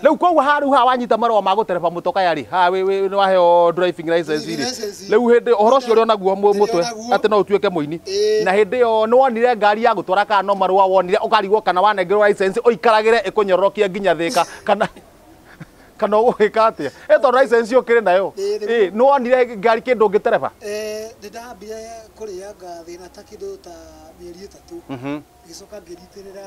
Rĩu koguo haha rĩu haha wanyita marũa ma gũtereba mũtokaya rĩ haha wĩ- wĩ- nĩ waheo driving license Driving rĩ license. rĩu hĩndĩ ũhoro ũcio ũrĩ onaguo mũ- Ndĩrĩ mũtwe onaguo. atĩ no ũtuĩke mũini Ĩĩ. na hĩndĩ ĩyo nĩ wonire ngari ya gũtwara kana no marũa wonire ũkarigwo kana wanengerwo license ũikaragĩre ĩkũnyororokie nginya thĩka kana kana ũgũgĩka atĩa ĩ tondũ license ũkĩrĩ nayo Ĩĩ, nĩguo. ĩ nĩ wonire ngari kĩndũ ũngĩtereba Eh, nĩ ndambire kũrĩanga thĩna ta kĩndũ ta mĩeri ĩtatũ ngĩcoka ngĩritĩrĩra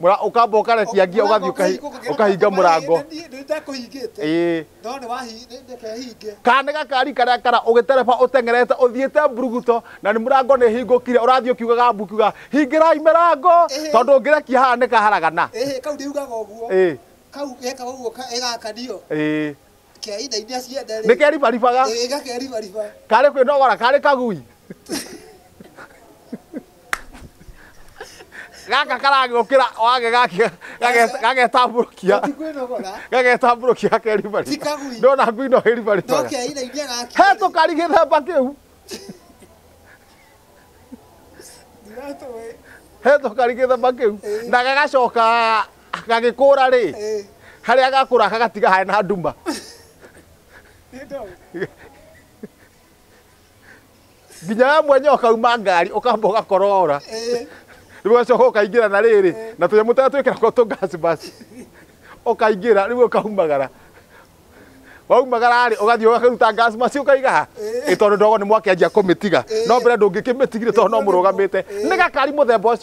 Mũra- ũkamba ũkarekia ngia ũgathiĩ ũkahi- ũkahinga mũrango nĩndekũhingĩte Ĩĩ. no nĩwahinge kana nĩ gakari karĩa kara ũgĩtereba ũteng'erete ũthiĩte mburuguto na nĩ mũrango nĩ hingũkire ũrathiĩ ũkiugaga mbu kiuga hingĩrai mĩrango Ĩhĩ. tondũ ũngĩrekia haha nĩ kaharagana ĩhĩ kau ndiugaga ũguo Ĩĩ. kau geka ũguo ka- ĩgakanio Ĩĩ. keina iria ciende nĩ keribaribaga ĩgakeribariba karĩ kwĩnogora karĩ kagui gaka karagĩũkĩra wage gake- gage- gagetambũrũkia Tikwĩnogora. gagetambũrũkia gakeribari Tikagui. ndona ngui no ĩribari Ndoke aira iria gaki. he tũkari gĩthemba kĩu Ndiratũĩ. he tũkari gĩthemba kĩu na gagacoka gagĩkũra rĩ Eh, harĩa gakũra gagatiga harĩ na nduma nĩ ndoĩ. nginya we mwenye ũkauma ngari ũkamba ũgakorora Eh, rĩu ũgacoka ũkaingĩra na rĩrĩ na tũnyamũ tũrĩa twĩkĩra ko tũgasbasi ũkaingĩra rĩu ũkaumagara waumagara rĩ ũgathiĩ ũgakaruta gasbasi ũkaiga ha Ĩ, tondũ ndogo nĩ mwakĩanjia kũmĩtiga no mbere ndũngĩkĩmĩtigire tondũ no mũrũgamĩte nĩ gakari mũthemba ũcio